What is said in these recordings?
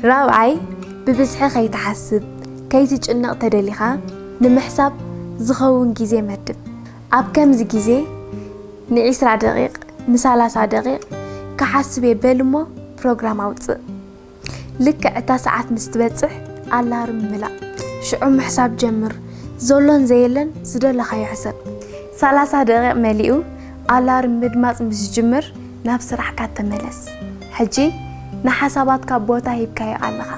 ራብዓይ፣ ብብዝሒ ከይትሓስብ፣ ከይትጭነቕ ተደሊኻ ንምሕሳብ ዝኸውን ግዜ መድብ። ኣብ ከምዚ ግዜ ንዒስራ ደቒቕ፣ ንሳላሳ ደቒቕ ክሓስብ'የ በል እሞ ፕሮግራም ኣውጽእ። ልክዕ እታ ሰዓት ምስ ትበጽሕ ኣላርም ምላእ። ሽዑ ምሕሳብ ጀምር። ዘሎን ዘየለን ዝደለኻዮ ሕሰብ። ሳላሳ ደቒቕ መሊኡ ኣላርም ምድማጽ ምስ ዝጅምር፣ ናብ ስራሕካ ተመለስ ሕጂ ንሓሳባትካ ቦታ ሂብካዮ ኣለኻ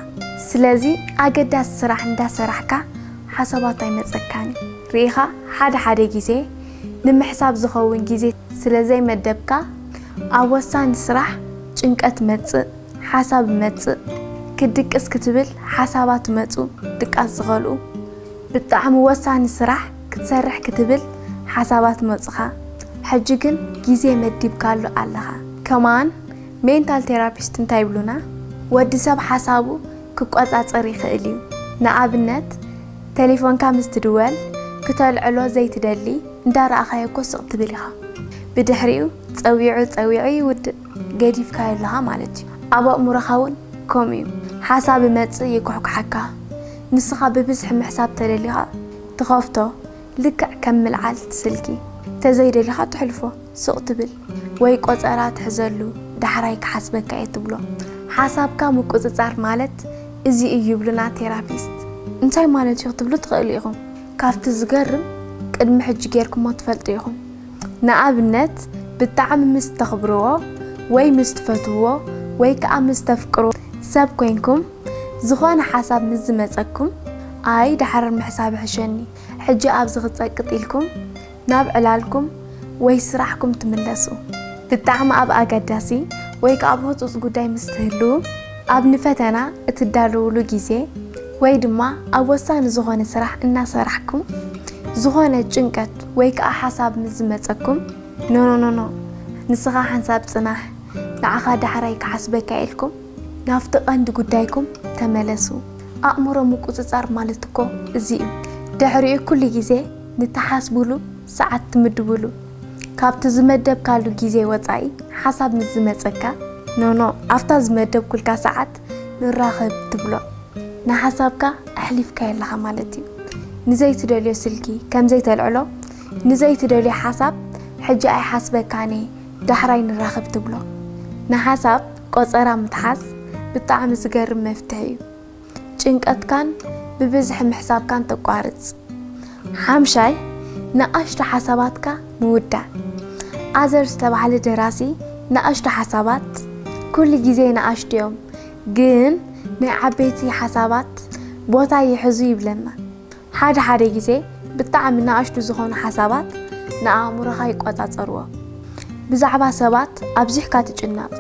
ስለዚ ኣገዳሲ ስራሕ እንዳሰራሕካ ሓሳባት ኣይመጸካን እዩ ሪኢኻ ሓደ ሓደ ግዜ ንምሕሳብ ዝኸውን ግዜ ስለዘይመደብካ ኣብ ወሳኒ ስራሕ ጭንቀት መጽእ ሓሳብ መጽእ ክድቅስ ክትብል ሓሳባት መጹ ድቃስ ዝኸልኡ ብጣዕሚ ወሳኒ ስራሕ ክትሰርሕ ክትብል ሓሳባት መጹኻ ሕጂ ግን ግዜ መዲብካሉ ኣለኻ። ከማን ሜንታል ቴራፒስት እንታይ ይብሉና ወዲ ሰብ ሓሳቡ ክቆጻጸር ይኽእል እዩ ንኣብነት ቴሌፎንካ ምስ ትድወል ክተልዕሎ ዘይትደሊ እንዳ ረኣኻዮ እኮ ስቕ ትብል ኢኻ ብድሕሪኡ ጸዊዑ ጸዊዑ ይውድእ ገዲፍካዮ ኣለኻ ማለት እዩ ኣብ ኣእምሮኻ እውን ከምኡ እዩ ሓሳብ ይመጽእ ይኩሕኩሓካ ንስኻ ብብዝሒ ምሕሳብ ተደሊኻ ትኸፍቶ ልክዕ ከም ምልዓልቲ ስልኪ ተዘይ ደሊኻ ተሕልፎ ስቕ ትብል ወይ ቆጸራ ትሕዘሉ ዳሕራይ ክሓስበካ እየ ትብሎ ሓሳብካ ምቁጽጻር ማለት እዚ እዩ ይብሉና ቴራፒስት። እንታይ ማለት እዩ ክትብሉ ትኽእሉ ኢኹም ካብቲ ዝገርም ቅድሚ ሕጂ ጌርኩሞ ትፈልጡ ኢኹም ንኣብነት ብጣዕሚ ምስ ተኽብርዎ ወይ ምስ ትፈትውዎ ወይ ከኣ ምስ ተፍቅርዎ ሰብ ኮይንኩም ዝኾነ ሓሳብ ምስ ዝመጸኩም ኣይ ዳሕረር ምሕሳብ ይሕሸኒ ሕጂ ኣብዚ ክጸቅጥ ኢልኩም ናብ ዕላልኩም ወይ ስራሕኩም ትምለሱ። ብጣዕሚ ኣብ ኣገዳሲ ወይ ከኣ ኣብ ህጹጽ ጉዳይ ምስ ትህልዉ፣ ኣብ ንፈተና እትዳለዉሉ ግዜ ወይ ድማ ኣብ ወሳኒ ዝኾነ ስራሕ እናሰራሕኩም ዝኾነ ጭንቀት ወይ ከኣ ሓሳብ ምስ ዝመጸኩም ኖኖኖኖ ንስኻ ሓንሳብ ጽናሕ ንዓኻ ዳሕራይ ክሓስበካ ኢልኩም ናብቲ ቀንዲ ጉዳይኩም ተመለሱ። ኣእምሮ ምቁጽጻር ማለት እኮ እዚ እዩ። ድሕሪኡ ኩሉ ግዜ ንትሓስቡሉ ሰዓት ትምድቡሉ። ካብቲ ዝመደብካሉ ግዜ ወጻኢ ሓሳብ ምስ ዝመጸካ ኖኖ ኣብታ ዝመደብኩልካ ሰዓት ንራኸብ ትብሎ። ንሓሳብካ ኣሕሊፍካዮ ኣለኻ ማለት እዩ። ንዘይትደልዮ ስልኪ ከም ዘይተልዕሎ፣ ንዘይትደልዮ ሓሳብ ሕጂ ኣይሓስበካን እየ ዳሕራይ ንራኸብ ትብሎ። ንሓሳብ። ቆጸራ ምትሓዝ ብጣዕሚ ዝገርም መፍትሒ እዩ ጭንቀትካን ብብዝሒ ምሕሳብካን ተቋርጽ። ሓምሻይ ንኣሽቱ ሓሳባትካ ምውዳእ ኣዘር ዝተባህለ ደራሲ ንኣሽቱ ሓሳባት ኩሉ ግዜ ንኣሽቱ እዮም ግን ናይ ዓበይቲ ሓሳባት ቦታ ይሕዙ ይብለና። ሓደ ሓደ ግዜ ብጣዕሚ ንኣሽቱ ዝኾኑ ሓሳባት ንኣእምሮኻ ይቆጻጸርዎ። ብዛዕባ ሰባት ኣብዚሕካ ትጭነቕ።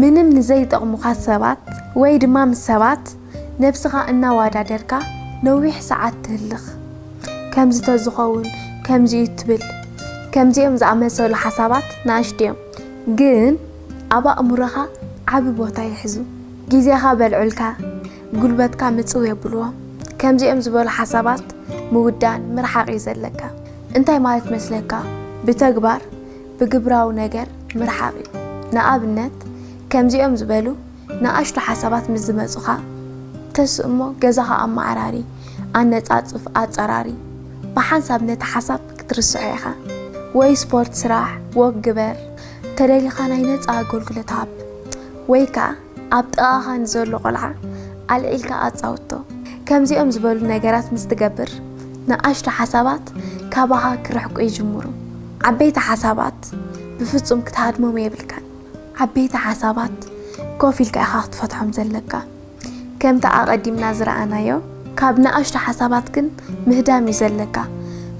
ምንም ንዘይጠቕሙኻ ሰባት ወይ ድማ ምስ ሰባት ነብስኻ እናዋዳደርካ ነዊሕ ሰዓት ትህልኽ። ከምዚ ተዝኸውን ከምዚ'ዩ ትብል። ከምዚኦም ዝኣመሰሉ ሓሳባት ንኣሽቱ'ዮም ግን ኣብ ኣእምሮኻ ዓቢ ቦታ ይሕዙ። ግዜኻ በልዑልካ። ጉልበትካ ምጽው የብልዎ ከምዚኦም ዝበሉ ሓሳባት ምውዳን ምርሓቅ እዩ ዘለካ እንታይ ማለት መስለካ ብተግባር ብግብራዊ ነገር ምርሓቅ እዩ ንኣብነት ከምዚኦም ዝበሉ ንኣሽቱ ሓሳባት ምስ ዝመጹኻ ተስ እሞ ገዛኻ ኣመዓራሪ ኣነጻጽፍ ኣጸራሪ ብሓንሳብ ነቲ ሓሳብ ክትርስዖ ኢኻ ወይ ስፖርት ስራሕ ወክ ግበር ተደሊኻ ናይ ነጻ ኣገልግሎት ሃብ ወይ ከኣ ኣብ ጥቓኻ ንዘሎ ቆልዓ ኣልዒልካ ኣጻውቶ። ከምዚኦም ዝበሉ ነገራት ምስ ትገብር፣ ንኣሽቱ ሓሳባት ካባኻ ክርሕቁ ይጅምሩ። ዓበይቲ ሓሳባት ብፍጹም ክትሃድሞም የብልካን። ዓበይቲ ሓሳባት ኮፍ ኢልካ ኢኻ ክትፈትሖም ዘለካ። ከምቲ ኣቐዲምና ዝረኣናዮ፣ ካብ ንኣሽቱ ሓሳባት ግን ምህዳም እዩ ዘለካ።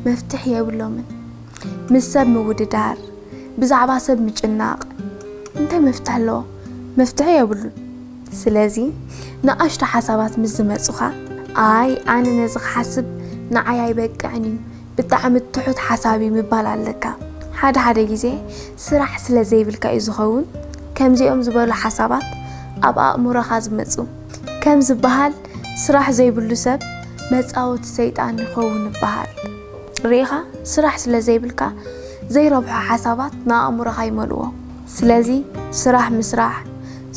መፍትሕ የብሎምን። ምስ ሰብ ምውድዳር፣ ብዛዕባ ሰብ ምጭናቕ እንታይ መፍትሒ ኣለዎ? መፍትሒ የብሉን። ስለዚ ንኣሽቱ ሓሳባት ምስ ዝመጹኻ፣ ኣይ ኣነ ነዚ ክሓስብ ንዓይ ኣይበቅዕን እዩ፣ ብጣዕሚ ትሑት ሓሳብ እዩ ምባል ኣለካ። ሓደ ሓደ ግዜ ስራሕ ስለ ዘይብልካ እዩ ዝኸውን ከምዚኦም ዝበሉ ሓሳባት ኣብ ኣእምሮኻ ዝመጹ። ከም ዝበሃል ስራሕ ዘይብሉ ሰብ መጻወቲ ሰይጣን ይኸውን ይበሃል። ርኢኻ ስራሕ ስለ ዘይብልካ ዘይረብሑ ሓሳባት ንኣእምሮኻ ይመልእዎ። ስለዚ ስራሕ ምስራሕ፣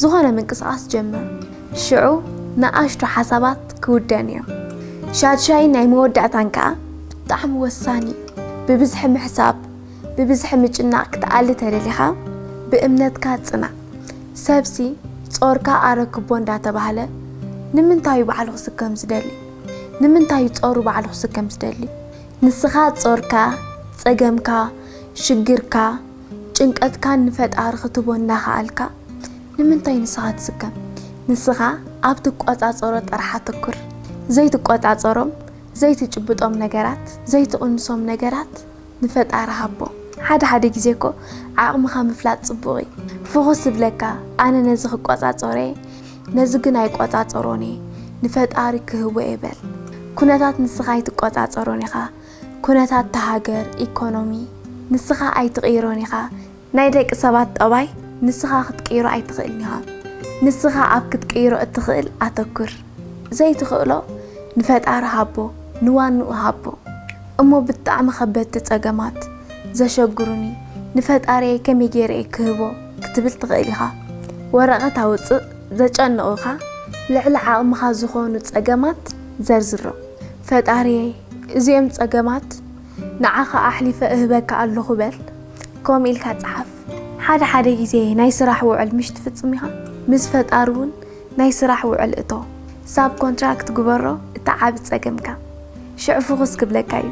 ዝኾነ ምንቅስቓስ ጀምር። ሽዑ ንኣሽቱ ሓሳባት ክውደን እዮም። ሻድሻይን ናይ መወዳእታን ከኣ ብጣዕሚ ወሳኒ እዩ። ብብዝሒ ምሕሳብ፣ ብብዝሒ ምጭናቕ ክትኣሊ ተደሊኻ ብእምነትካ ጽናዕ። ሰብሲ ጾርካ ኣረክቦ እንዳተባህለ ንምንታዩ ባዕሉ ክስከም ዝደሊ? ንምንታዩ ጾሩ ባዕሉ ክስከም ዝደሊ? ንስኻ ጾርካ፣ ጸገምካ፣ ሽግርካ፣ ጭንቀትካ ንፈጣሪ ክትቦ እንዳከኣልካ ንምንታይ ንስኻ ትስከም ንስኻ ኣብ ትቆጻጸሮ ጥራሕ ኣተኩር ዘይትቆጻጸሮም ዘይትጭብጦም ነገራት ዘይትቕንሶም ነገራት ንፈጣሪ ሃቦ። ሓደ ሓደ ግዜ እኮ ዓቕምኻ ምፍላጥ ጽቡቕ እዩ ፍኹስ ዝብለካ ኣነ ነዚ ክቆጻጸሮ እየ ነዚ ግን ኣይቆጻጸሮን እየ ንፈጣሪ ክህቦ እየ በል ኩነታት ንስኻ ኣይትቆጻጸሮን ኢኻ ኩነታት እታ ሃገር ኢኮኖሚ ንስኻ ኣይትቕይሮን ኢኻ ናይ ደቂ ሰባት ጠባይ ንስኻ ክትቅይሮ ኣይትኽእልን ኢኻ ንስኻ ኣብ ክትቅይሮ እትኽእል ኣተኩር ዘይትኽእሎ ንፈጣሪ ሃቦ ንዋንኡ ሃቦ እሞ ብጣዕሚ ከበድቲ ጸገማት ዘሸግሩኒ ንፈጣሪየይ ከመይ ገይረ እየ ክህቦ ክትብል ትኽእል ኢኻ ወረቐት ኣውጽእ ዘጨንቑኻ ልዕሊ ዓቕምኻ ዝኾኑ ጸገማት ዘርዝሮም ፈጣሪየይ እዚኦም ጸገማት ንዓኻ ኣሕሊፈ እህበካ ኣለኹ በል ከምኡ ኢልካ ጽሓፍ። ሓደ ሓደ ግዜ ናይ ስራሕ ውዕል ምሽ ትፍጽሚኻ ምስ ፈጣሪ ውን ናይ ስራሕ ውዕል እቶ ሳብ ኮንትራክት ግበሮ እቲ ዓቢ ጸገምካ ሽዑ ፍኹስ ክብለካ ዩ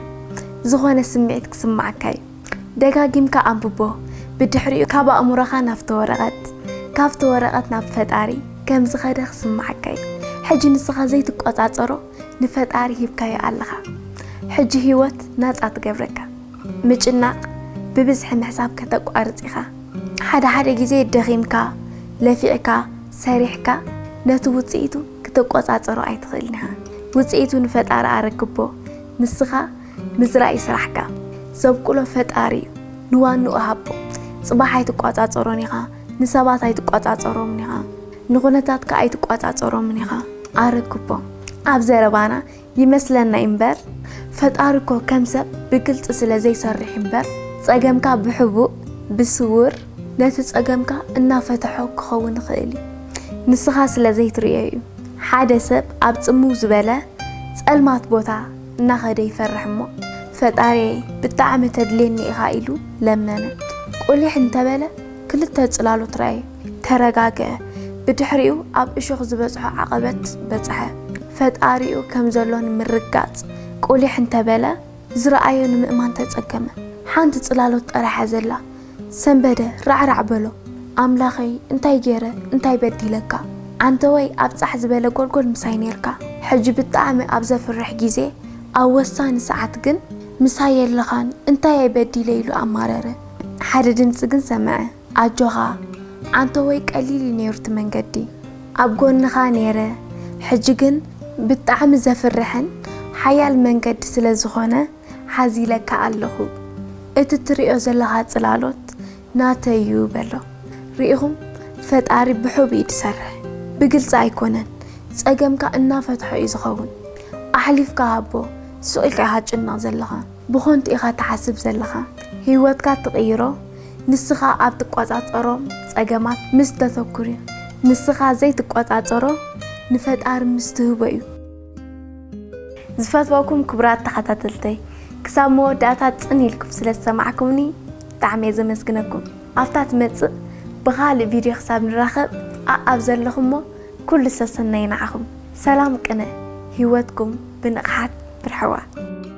ዝኾነ ስሚዒት ክስማዓካ ዩ ደጋጊምካ ኣንብቦ ብድሕሪኡ ካብ ኣእምሮኻ ናብቲ ወረቀት ካብቲ ወረቀት ናብ ፈጣሪ ከምዝኸደ ክስማዓካ ዩ ሕጂ ንስኻ ዘይትቆጻጸሮ ንፈጣሪ ሂብካዮ ኣለኻ ሕጂ ሂወት ናጻ ትገብረካ ምጭናቅ ብብዝሒ ምሕሳብ ከተቋርጽ ኢኻ ሓደ ሓደ ግዜ ደኺምካ ለፊዕካ ሰሪሕካ ነቲ ውጽኢቱ ክትቆጻጸሮ ኣይትኽእልን ኢኻ ውጽኢቱ ንፈጣሪ ኣረክቦ ንስኻ ምዝራእ'ዩ ስራሕካ ዘብቁሎ ፈጣሪ'ዩ ንዋንኡ ሃቦ ጽባሕ ኣይትቆጻጸሮን ኢኻ ንሰባት ኣይትቆጻጸሮምን ኢኻ ንኩነታትካ ኣይትቋጻጸሮምን ኢኻ ኣረክቦ ኣብ ዘረባና ይመስለና ኢምበር ፈጣሪ እኮ ከም ሰብ ብግልጺ ስለ ዘይሰርሕ ኢምበር ጸገምካ ብሕቡእ ብስዉር ነቲ ጸገምካ እናፈተሖ ክኸውን ይኽእል እዩ ንስኻ ስለ ዘይትርእዮ እዩ ሓደ ሰብ ኣብ ጽምው ዝበለ ጸልማት ቦታ እናኸደ ይፈርሕ እሞ ፈጣሪየይ ብጣዕሚ ተድልየኒ ኢኻ ኢሉ ለመነ ቁሊሕ እንተበለ ክልተ ጽላሎት ረኣየ፣ ተረጋግኤ፣ ብድሕሪኡ ኣብ እሾኽ ዝበጽሖ ዓቐበት በጽሐ። ፈጣሪኡ ከም ዘሎ ንምርግጋጽ ቁሊሕ እንተ በለ፣ ዝረኣዮ ንምእማን ተጸገመ። ሓንቲ ጽላሎት ጠራሕ'ያ ዘላ። ሰንበደ ራዕራዕ በሎ፣ ኣምላኸይ እንታይ ገይረ እንታይ በዲለካ? ዓንተወይ ኣብ ጻሕ ዝበለ ጎልጎል ምሳይ ኔርካ፣ ሕጂ ብጣዕሚ ኣብ ዘፍርሕ ግዜ፣ ኣብ ወሳኒ ሰዓት ግን ምሳይ የለኻን፣ እንታይ'የ በዲለ ኢሉ ኣማረረ። ሓደ ድምጺ ግን ሰምዐ፣ ኣጆኻ፣ ዓንተወይ ቀሊል እዩ ነይሩ እቲ መንገዲ፣ ኣብ ጎንኻ ነይረ፣ ሕጂ ግን ብጣዕሚ ዘፍርሕን ሓያል መንገዲ ስለ ዝኾነ ሓዚለካ ኣለኹ፣ እቲ ትርእዮ ዘለኻ ጽላሎት ናተይ እዩ በሎ። ርኢኹም ፈጣሪ ብሑብ እዩ ዝሰርሕ፣ ብግልጺ ኣይኮነን፣ ጸገምካ እናፈትሖ እዩ ዝኸውን፣ ኣሕሊፍካ ሃቦ፣ ሱቕ ኢልካ ኢኻ ትጭነቕ ዘለኻ። ብኾንቱ ኢኻ ትሓስብ ዘለኻ ሂወትካ ትቕይሮ ንስኻ ኣብ ትቋጻጸሮ ጸገማት ምስ ተተኩር እዩ ንስኻ ዘይትቋጻጸሮ ንፈጣሪ ምስ ትህቦ እዩ። ዝፈትወኩም ክቡራት ተኻታተልተይ ክሳብ መወዳእታ ጽን ኢልኩም ስለ ዝሰማዕኩምኒ ብጣዕሚ እየ ዘመስግነኩም ኣብታ ትመጽእ ብኻልእ ቪድዮ ክሳብ ንራኸብ ኣኣብ ዘለኹሞ ኩሉ ሰሰናዩ ንዓኹም ሰላም ቅነ ሂወትኩም ብንቕሓት ምርሕዋ።